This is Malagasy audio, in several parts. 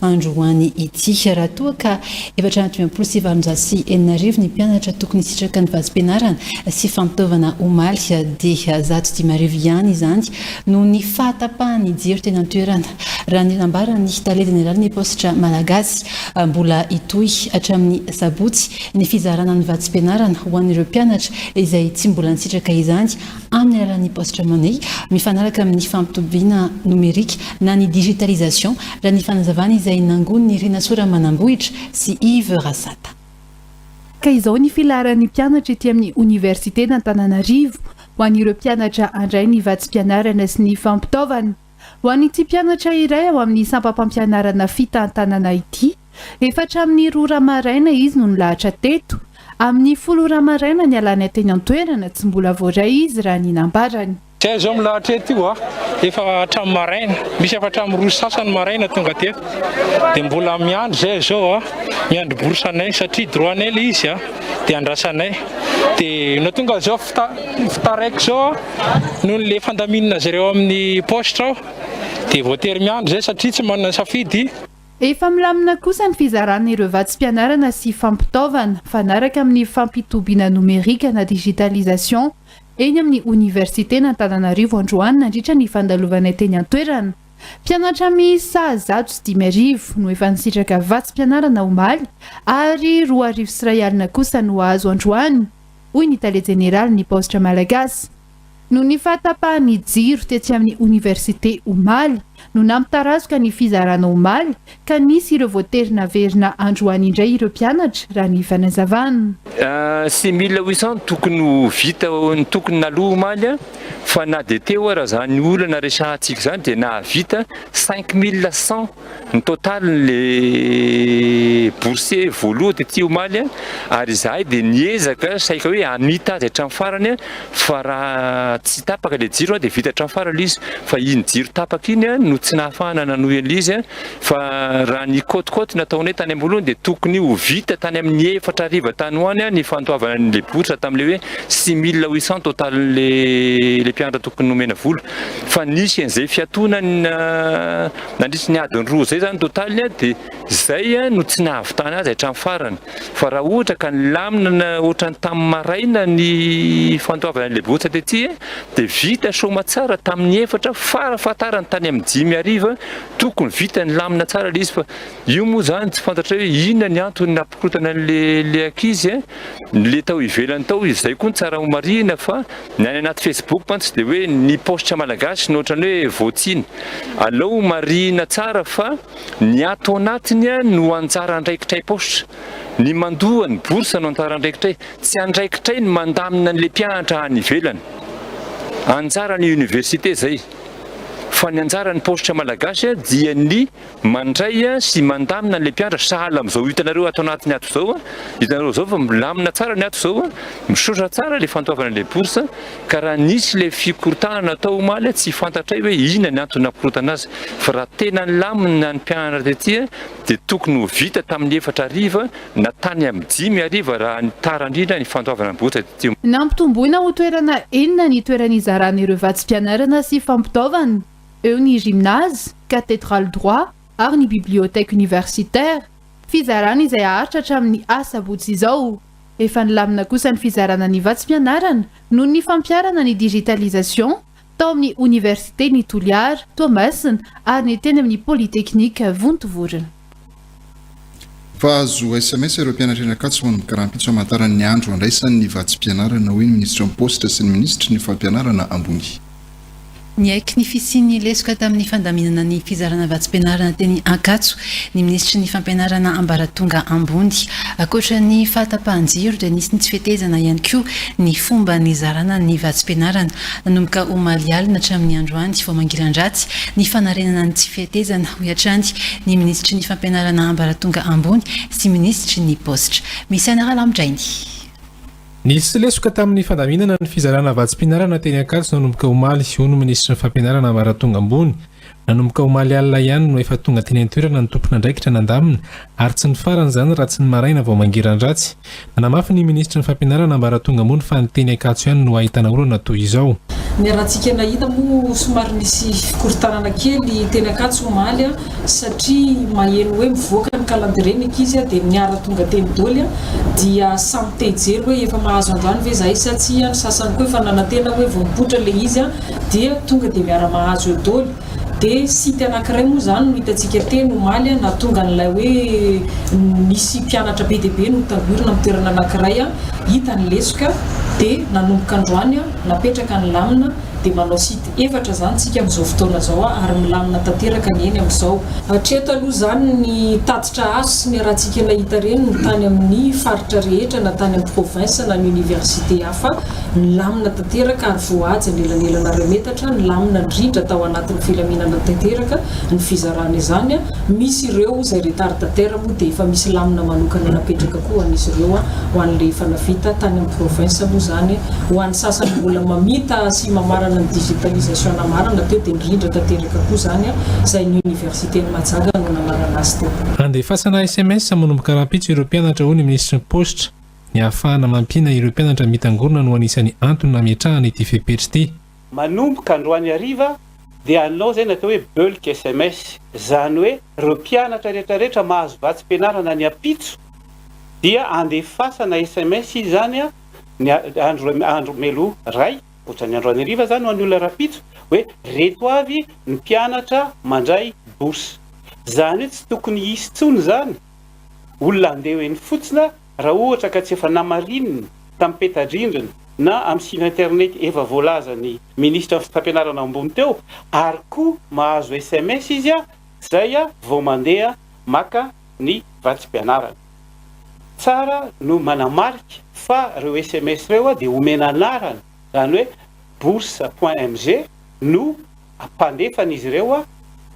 Andro ho any ity. Raha toa ka efatra amby dimampolo sy valonjato sy enina arivo ny mpianatra tokony hisitraka ny vatsim-pianarana sy fampitaovana omaly dia zato dimy arivo ihany izany noho ny fahatapahan'ny jiro teny an-toerana raha ny nambaran'ny tale jeneralin'ny paositra malagasy. Mbola hitohy hatramin'ny sabotsy ny fizarana ny vatsim-pianarana ho an'ireo mpianatra izay tsy mbola nisitraka izany amin'ny alalan'ny Posture Money, mifanaraka amin'ny fampitobiana nomerika na ny digitalisation, raha ny fanazavana izay nangonin'i Rinasoa Ramanambohitra sy Yves Rasata. Ka izao ny filaharan'ny mpianatra ety amin'ny Oniversiten'Antananarivo ho an'ireo mpianatra handray ny vatsim-pianarana sy ny fampitaovana. Ho an'ity mpianatra iray ao amin'ny sampam-pampianarana fitantanana ity, efa hatramin'ny roa ora maraina izy no nilahatra teto, amin'ny folo ora maraina nialany teny an-toerana, tsy mbola voaray izy raha ny nambarany. Tsy hay izao milahatra eto io aho, efa hatramin'ny maraina, misy efa hatramin'ny roa sy sasany maraina tonga teto, dia mbola miandry izay izao aho, miandry bourse anay satria droit anay ilay izy dia andrasanay, dia no tonga izao, vita vita raiky izao aho. Nony le fandaminana azy ireo amin'ny paositra aho dia voatery miandry izay satria tsy manana safidy. Efa milamina kosa ny fizarana ireo vatsim-pianarana sy fampitaovana, mifanaraka amin'ny fampitobiana nomerika na digitalisation, eny amin'ny Oniversiten'Antananarivo androany nandritra ny fandalovanay teny an-toerana. Mpianatra miisa zato sy dimy arivo no efa nisitraka vatsim-pianarana omaly ary roa arivo sy iray alina kosa no hahazo androany. hoy ny tale jeneralin'ny Paositra Malagasy. Noho ny fahatapahan'ny jiro tetsy amin'ny oniversite omaly no nampitarazoka ny fizarana omaly ka nisy ireo voatery naverina androany indray ireo mpianatra, raha ny fanazavana. Six mille huit cents tokony ho vita ny tokony naloa omaly fa na dia teo ara izany olana resahantsika izany dia nahavita cinq mille cent. Ny totalin'ilay bourse voaloha tety omaly ary izahay dia niezaka saika hoe hamita azy hatramin'ny farany fa raha tsy tapaka ilay jiro dia vita hatramin'ny farany ilay izy fa iny jiro tapaka iny no tsy nahafahana nanohy an'ilay izy fa raha ny côte-côte nataonay tany am-boalohany dia tokony ho vita tany amin'ny efatra hariva tany ho any ny fandoavana an'ilay bourse tamin'ilay hoe six mille huit cents totalin'ilay ilay mpianatra tokony nomena vola fa nisy an'izay fiatonana Nandritry ny adiny roa izay izany totaliny dia izay no tsy nahavitana azy hatramin'ny farany. Fa raha ohatra ka nilamina ohatran'ny tamin'ny maraina ny fandoavana an'ilay botsa tety dia vita soamatsara tamin'ny efatra fara fahatarany tany amin'ny dimy hariva, tokony vita nilamina tsara ilay izy fa io moa izany tsy fantatrao hoe inona ny antony nampikorontana an'ilay ankizy, ilay tao ivelany tao izay koa ny tsara marihina fa. Ny any anaty Facebook mantsy dia hoe ny paositra malagasy no ohatran'ny hoe voatsiny. Alao marihina tsara fa ny ato anatiny no anjara andraikitray paositra. Ny mandoa ny bourse no anjara andraikitray. Tsy andraikitray ny mandamina an'ilay mpianatra any ivelany. Anjaran'ny université izay. Fa ny anjaran'ny paositra malagasy dia ny Mandray sy mandamina an'ilay mpianatra sahala amin'izao hitanareo ato anatiny ato izao. Hitanareo izao fa milamina tsara ny ato izao. Misaotra tsara ilay fandoavana ilay bourse. Ka raha nisy ilay fikorontanana tao omaly tsy fantatray hoe inona ny antony nakorotana azy. Fa raha tena nilamina ny mpianatra tety dia tokony ho vita tamin'ny efatra hariva na tany amin'ny dimy hariva raha ny tara indrindra ny fandoavana ny bourse tety. Nampitomboina ho toerana enina ny toeran'izaran'ireo vatsim-pianarana sy fampitaovana. eo ny gymnase, cathédrale droit ary ny bibliothèque universitaire. Fizarana izay haharitra hatramin'ny asabotsy izao. Efa nilamina kosa ny fizarana ny vatsim-pianarana noho ny fampiharana ny digitalisation tao amin'ny oniversiten'i Toliara, Toamasina ary ny teny amin'ny polytechnique Vontovorona. Mpahazo sms ireo mpianatra eny Ankatso ho an'ny karampitso hamantarany ny andro handraisany ny vatsim-pianarana, hoy ny minisitry ny Paositra sy ny minisitry ny Fampianarana ambony. Niaiky ny fisian'ny lesoka tamin'ny fandaminana ny fizarana vatsim-pianarana teny Ankatso ny minisitry ny Fampianarana ambaratonga ambony. Ankoatra ny fahatapahan-jiro dia nisy ny tsy fetezana ihany koa ny fomba nizarana ny vatsim-pianarana Nanomboka omaly alina hatramin'ny androany vao mangiran-dratsy ny fanarenana ny tsy fihetezana, hoy hatrany ny minisitry ny Fampianarana ambaratonga ambony sy minisitry ny Paositra, Misaina Ralamidrainy. Nisy lesoka tamin'ny fandaminana ny fizarana vatsim-pianarana teny Ankatso nanomboka omaly, hoy ny minisitry ny Fampianarana ambaratonga ambony Nanomboka omaly alina ihany no efa tonga teny an-toerana ny tompon'andraikitra nandamina ary tsy nifarana izany raha tsy ny maraina vao mangiran-dratsy. Nanamafy ny minisitry ny Fampianarana ambaratonga ambony fa ny teny Ankatso ihany no ahitana olana toy izao. Ny harantsika nahita moa somary nisy fikorontanana kely teny Ankatso omaly satria maheno hoe mivoaka ny calendrier ny ankizy dia niara tonga teny doly dia samy te hijery hoe efa mahazo androany ve izahay sa tsia, ny sasany koa efa nanantena hoe vao mipoitra ilay izy dia tonga dia miara-mahazo eo doly, dia site anakiray moa izany no hitantsika teny omaly nahatonga an'ilay hoe nisy mpianatra be dia be notahorina amin'ny toerana anakiray, hita ny lesoka, dia nanomboka androany napetraka ny lamina, dia manao site efatra izany tsika amin'izao fotoana izao ary milamina tanteraka ny eny amin'izao. Hatreto aloha izany ny tatitra azo sy niarahantsika nahita ireny no tany amin'ny faritra rehetra na tany amin'ny province na ny université hafa. fa milamina tanteraka ary voahaja anelanelan'aray metatra, nilamina indrindra tao anatin'ny filaminana tanteraka ny fizarana izany, misy ireo izay retardataire moa dia efa misy lamina manokana napetraka koa ho an'izy ireo ho an'ilay efa navita tany amin'ny province moa izany ho an'ny sasany mbola mamita sy mamarana ny digitalisation namarana teo dia nirindra tanteraka koa izany izay ny universiten'i Majaga no namarana azy teo. Handefasana sms manomboka rahampitso ireo mpianatra hoy ny minisitry ny paositra. Ny ahafahana mampiana ireo mpianatra mitangorona no anisan'ny antony nametrahana ity fepetra ity. Manomboka androany hariva dia hanao izay natao hoe bulk sms, izany hoe ireo mpianatra rehetra rehetra mahazo vatsim-pianarana ny ampitso dia andefasana sms izany ny andro andro melo ray ohatran'ny androany hariva izany ho an'ny olona rahampitso hoe reto avy ny mpianatra mandray bourse izany hoe tsy tokony hisy intsony izany olona handeha eny fotsiny Raha ohatra ka tsy efa namarinina tamin'ny peta-drindrina na amin'ny site internet efa voalazan'ny Minisitra fitram-pianarana ambony teo ary koa mahazo sms izy a! zay a! vao mandeha maka ny vatsim-pianarana. Tsara no manamarika fa reo sms reo a! dia omena anarana, zany hoe bourse point mg no Ampandefana izy ireo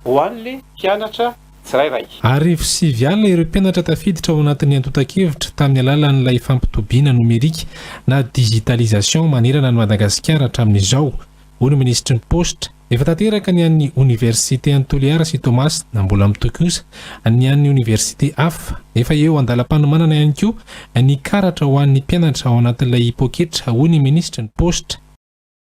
ho an'le mpianatra tsirairay. Arivo sivy alina ireo mpianatra tafiditra ao anatin'ny antontan-kevitra tamin'ny alalan'ilay fampitobiana nomerika na digitalisation manerana an'i Madagasikara hatramin'izao, hoy ny minisitry ny Paositra. Efa tanteraka ny an'ny oniversite an'i Toliara sy Toamasina, mbola mitohy kosa ny an'ny oniversite hafa. Efa eo an-dalam-panomanana ihany koa ny karatra ho an'ny mpianatra ao anatin'ilay poketra, hoy ny minisitry ny Paositra.